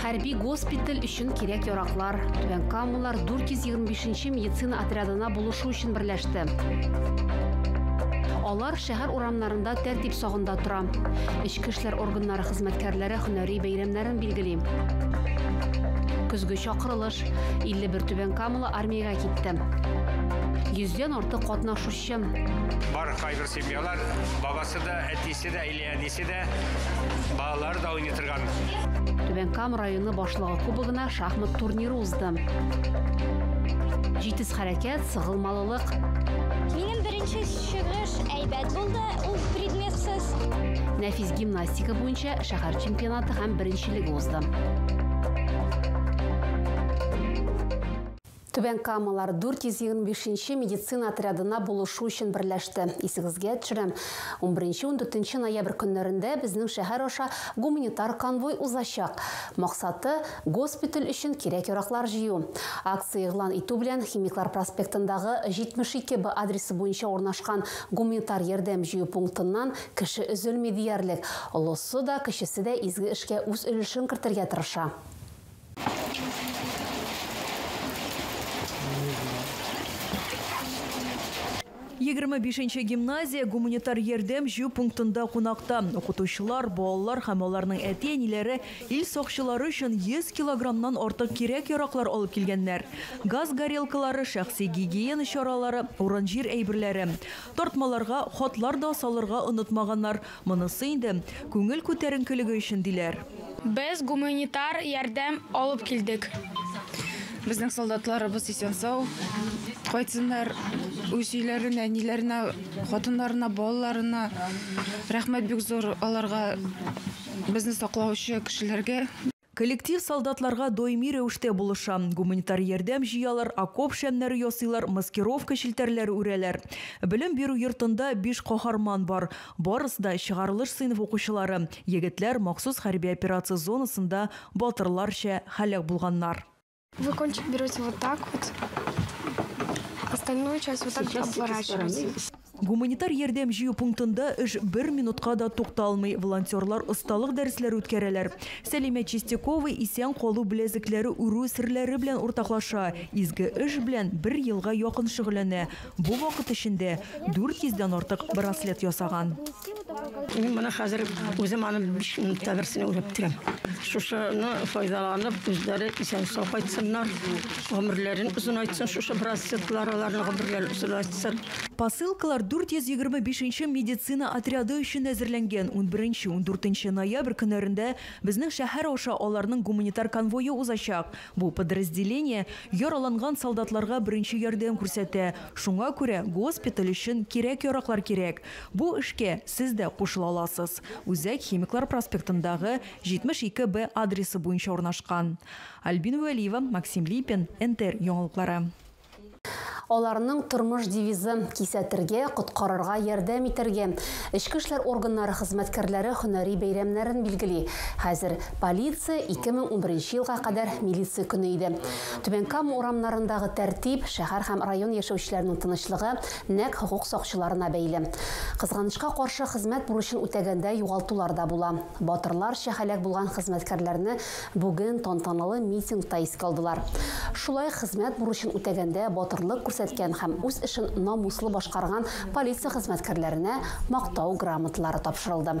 Хәрби госпиталь өчен кирәк яраклар. Түбән Камалар 425-нче медицина отрядына булышу өчен берләште. Алар шәһәр урамнарында тәртип сагында тора. Эчке эшләр органнары хезмәткәрләре һөнәри бәйрәмнәрен билгели. Көзге чакырылыш. 51 Түбән Камала армиягә китте. Йөздән артык катнашучы Чын. Бар кайбер семьялар бабасы да, әтисе дә, или әнисе дә, балалар да уйный торган. Түбән Кам районы башлыгы кубогына шахмат турниры узды. Җитез хәрәкәт, сыгылмалылык. Минем беренче чыгыш әйбәт булды, ул предметсыз. Нәфис гимнастика буенча шәһәр чемпионаты һәм беренчелеге узды. Түбән Камалар 425 медицина отрядына булышу өчен берләште. Исегезгә төшерәм, унберенче-ундүртенче ноябрь көннәрендә безнең шәһәр аша гуманитар конвой узачак. Максаты, госпиталь өчен кирәк-яраклар җыю. Акция игълан итү белән Химиклар проспектындагы 72 Б адресы буенча урнашкан гуманитар ярдәм җыю пунктыннан кеше өзелми диярлек. Олысы да, кечесе дә изге эшкә үз өлешен кертергә тырыша. Егерме бишенче гимназия гуманитар ярдәм җыю пунктында кунакта. Укытучылар, балалар һәм аларның әти-әниләре ил сакчылары өчен 100 килограммнан артык кирәк-яраклар алып килгәннәр. Газ горелкалары, шәхси гигиена чаралары, урын-җир әйберләре. Тартмаларга хатлар да салырга онытмаганнар. Монысы инде күңел күтәренкелеге өчен, диләр. Без гуманитар ярдәм алып килдек. Безнең солдатларыбыз исән-сау кайтсыннар, үз өйләренә, әниләренә, хатыннарына, балаларына. Рәхмәт бик зур аларга, безне саклаучы кешеләргә. Коллектив солдатларга даими рәвештә булыша, гуманитар ярдәм җыялар, окоп шәмнәре ясыйлар, маскировка челтәрләре үрәләр. Белем бирү йортында биш каһарман бар, барысы да, чыгарылыш сыйныф укучылары, егетләр махсус хәрби операция зонасында батырларча һәлак булганнар. Вы кончик берете вот так вот. Остальную часть вот так Сейчас обворачиваете. Гуманитар ярдәм җыю пунктында эш бер минутка да тукталмый. Волонтерлар осталык дәресләре үткәрәләр. Сәлимә Чистякова исән калу беләзекләре үрү серләре белән уртаклаша. Изге эш белән бер елга якын шөгыльләнә. Бу вакыт эчендә 400 дән артык браслет ясаган. Мин моны хәзер үзем аны 5 минутта берсен уйлап бетерәм. Шушыны файдаланып, үзләре исән-сау кайтсыннар, гомерләрен озынайтсын шушы браслетлар, аларның гомерләрен озынайтсын. Посылкалар 425 нче медицина отряды өчен әзерләнгән. Унберенче-ундүртенче ноябрь көннәрендә безнең шәһәр аша аларның гуманитар конвое узачак. Бу подразделение яраланган солдатларга беренче ярдәм күрсәтә, шуңа күрә госпиталь өчен кирәк-яраклар кирәк. Бу эшкә сез дә кушыла аласыз. Үзәк Химиклар проспектындагы 72 Б адресы буенча урнашкан. Альбина Вәлиева, Максим Липин, НТР яңалыклары. Аларның тормыш девизы, кисәтергә, коткарырга, ярдәм итәргә. Эчке эшләр органнары хезмәткәрләре һөнәри бәйрәмнәрен билгели. Хәзер, полиция, 2011 елга кадәр милиция көне иде. Түбән Кама урамнарындагы тәртип, шәһәр һәм район яшәүчеләренең тынычлыгы нәкъ хокук сакчыларына бәйле. Кызганычка каршы, хезмәт бурычын үтәгәндә югалтулар да була. Батырларча һәлак булган хезмәткәрләрне Бүген тантаналы митингта искә алдылар. Шулай хезмәт бурычын үтәгәндә батырлык күрсәткән һәм үз эшен намуслы башкарган полиция хезмәткәрләренә Мактау грамоталары тапшырылды.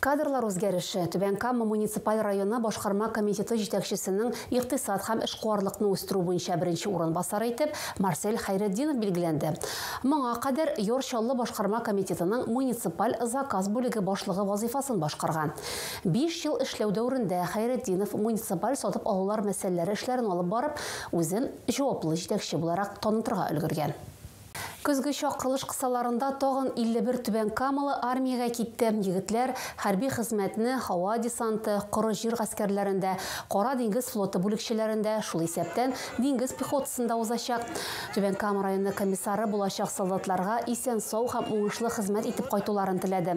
Кадрлар үзгәреше, Түбән Кама муниципаль районы башкарма комитеты җитәкчесенең икътисад һәм эшкуарлыкны үстерү буенча беренче урынбасары итеп Марсель Хәйретдинов билгеләнде. Моңа кадәр Йор Чаллы башкарма комитетының муниципаль заказ бүлеге башлыгы вазыйфасын башкарган. Биш ел эшләү дәверендә Хәйретдинов муниципаль сатып алулар мәсьәләләре эшләрен алып барып, үзен җаваплы җитәкче буларак танытырга өлгергән. Көзге чакырылыш кысаларында тагын 51 түбәнкамалы армиягә китте, егетләр хәрби хезмәтне һава десанты, коры җир гаскәрләрендә, Кара диңгез флоты бүлекчәләрендә, шул исәптән диңгез пехотасында узачак. Түбән Кама районы комиссары булачак солдатларга исән-сау һәм уңышлы хезмәт итеп кайтуларын теләде.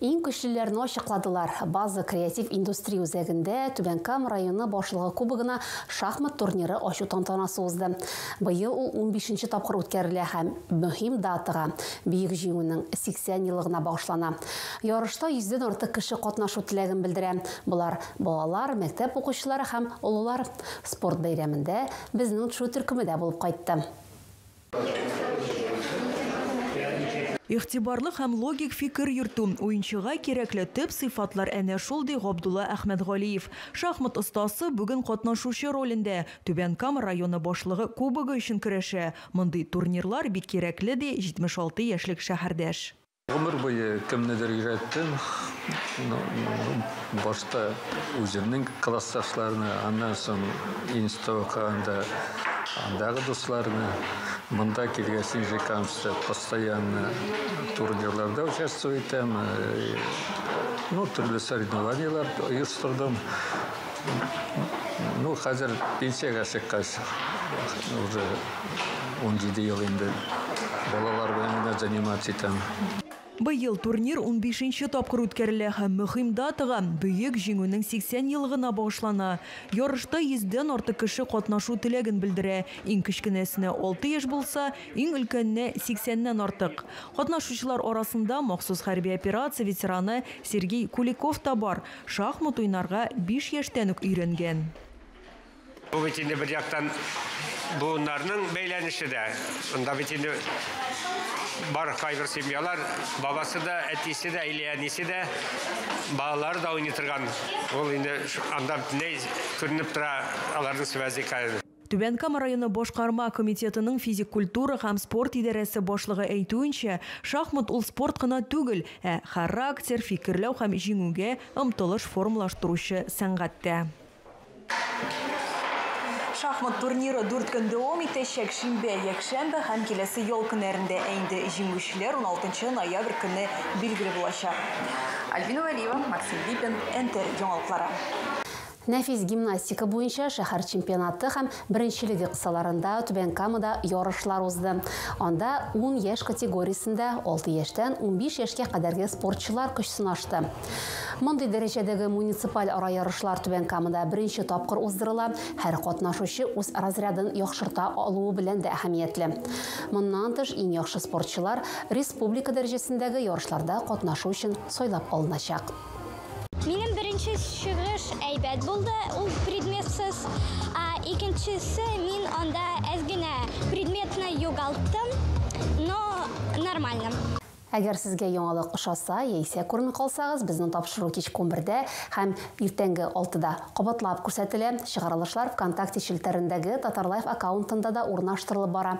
Иң көчлеләрне ачыкладылар. База креатив индустрия үзәгендә Түбән Кама районы башлыгы кубогына шахмат турниры ачу тантанасы узды. Быел ул 15 тапкыр үткәрелә һәм мөһим датага, Бөек Җиңүнең 80 еллыгына багышлана. Ярышта 100 дән артык кеше катнашу теләген белдерә. Болар, балалар, мәктәп укучылары һәм олылар. Спорт бәйрәмендә безнең Тшу төркеме дә булып кайтты. Игътибарлы һәм логик фикер йөртү, уенчыга кирәкле төп сыйфатлар әнә шул, ди Габдулла Әхмәтгалиев. Шахмат остасы бүген катнашучы ролендә, Түбән Кама районы башлыгы кубогы өчен көрәшә. Мондый турнирлар бик кирәкле, ди 76 яшьлек шәһәрдәш. Гомер буе кемнедер өйрәттем. Башта үземнең классташларны, аннан соң институтка анда андагы дусларны. Монда килгәч, Нижнекамскта постоянно турнирларда участвовать итәм. Ну, төрле соревнованиеләр оештырдым. Ну, хәзер пенсиягә чыккач, уже Унҗиде ел инде балалар белән генә заниматься итәм. Быел турнир унбишенче тапкыр үткәрелә һәм мөһим датага, Бөек Җиңүнең 80 еллыгына багышлана. Ярышта йөздән артык кеше катнашу теләген белдерә, иң кечкенәсенә алты яшь булса, иң өлкәненә, сиксәннән артык. Катнашучылар арасында махсус хәрби операция ветераны Сергей Куликов та бар, шахмат уйнарга биш яшьтән үк өйрәнгән. Бу бит инде бер яктан буыннарның бәйләнеше дә. Шунда бит инде бар кайбер семьялар бабасы да, әтисе дә, или әнисе дә, балалары да уйный торган. Ул инде анда бөтенләй күренеп тора аларның связи. Түбән Кама районы башкарма комитетының физик культура һәм спорт идарәсе башлыгы әйтүенчә, шахмат ул спорт кына түгел, ә характер, фикерләү һәм җиңүгә омтылыш формалаштыручы сәнгать тә. Шахмат турниры дүрт көн дәвам итәчәк. Шимбә, якшәмбе һәм киләсе ял көннәрендә, ә инде җиңүчеләр 16 ноябрь көнне билгеле булачак. Альбина Вәлиева, Максим Липин, НТР яңалыклары. Нәфис гимнастика буенча шәһәр чемпионаты һәм беренчелеге кысаларында Түбән Камада ярышлар узды. Анда ун яшь категориясендә алты яшьтән унбиш яшькә кадәрге спортчылар көч сынашты. Мондый дәрәҗәдәге муниципаль ара ярышлар Түбән Камада беренче тапкыр уздырыла, һәр катнашучы үз разрядын яхшырта алуы белән дә әһәмиятле. Моннан тыш, иң яхшы спортчылар республика дәрәҗәсендәге ярышларда катнашу өчен сайлап алыначак. Минем беренче чыгыш әйбәт булды, ул предметсыз. Икенчесе мин анда әз генә предметны югалттым, но нормально. Әгәр сезгә яңалык ошаса яисә күрми калсагыз, безнең тапшыру кичке унбердә һәм иртәнге алтыда кабатлап күрсәтелә. Чыгарылышлар ВКонтакте челтәрендәге Татарлайф аккаунтында да урнаштырылып бара.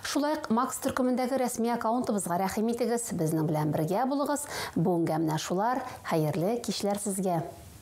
Шулай ук Макс төркемендәге рәсми аккаунтыбызга рәхим итегез. Безнең белән бергә булыгыз. Бүгенгә менә шулар. Хәерле кичләр сезгә!